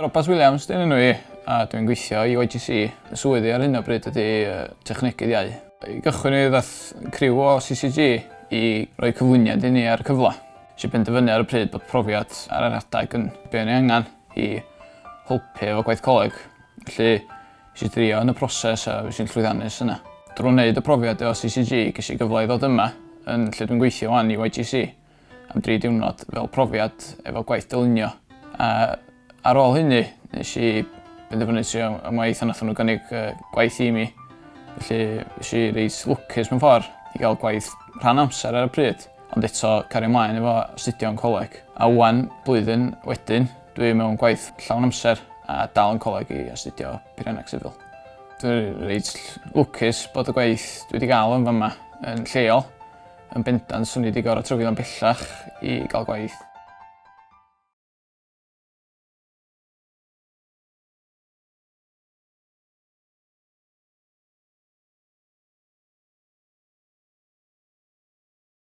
Robat Williams dyn enw i a dwi'n gweithio i YGC. Fy swydd i ar hyn o bryd ydy Technegydd Iau. I gychwyn mi ddaeth criw o CCG i roi cyflwyniad i ni ar y cyfle. Nes i benderfynu ar y pryd bod profiad ar yr adeg yn be' o'n i angan i helpu efo gwaith coleg. Felly nes i drio yn y proses a fues i'n llwyddiannus yna. Drw neud y profiad efo CCG gesh i gyfle i ddod yma yn lle dwi'n gweithio ŵan i YGC. am dri diwrnod fel profiad efo gwaith dylunio. A ar ôl hynny, nes i benderfynu trio am waith a nath nhw gynnig gwaith i mi. Felly, nes i reit lwcus mewn ffordd i gael gwaith rhan amser ar y pryd, ond eto cario ymlaen efo astudio yn coleg. A ŵan, blwyddyn wedyn, dwi mewn gwaith llawn amser a dal yn coleg i astudio Peirianneg Sifil. Dwi'n reit lwcus bod y gwaith dwi wedi gael yn fama yn lleol Yn bendant, swn i wedi gorfod trywio'n bellach i gael gwaith.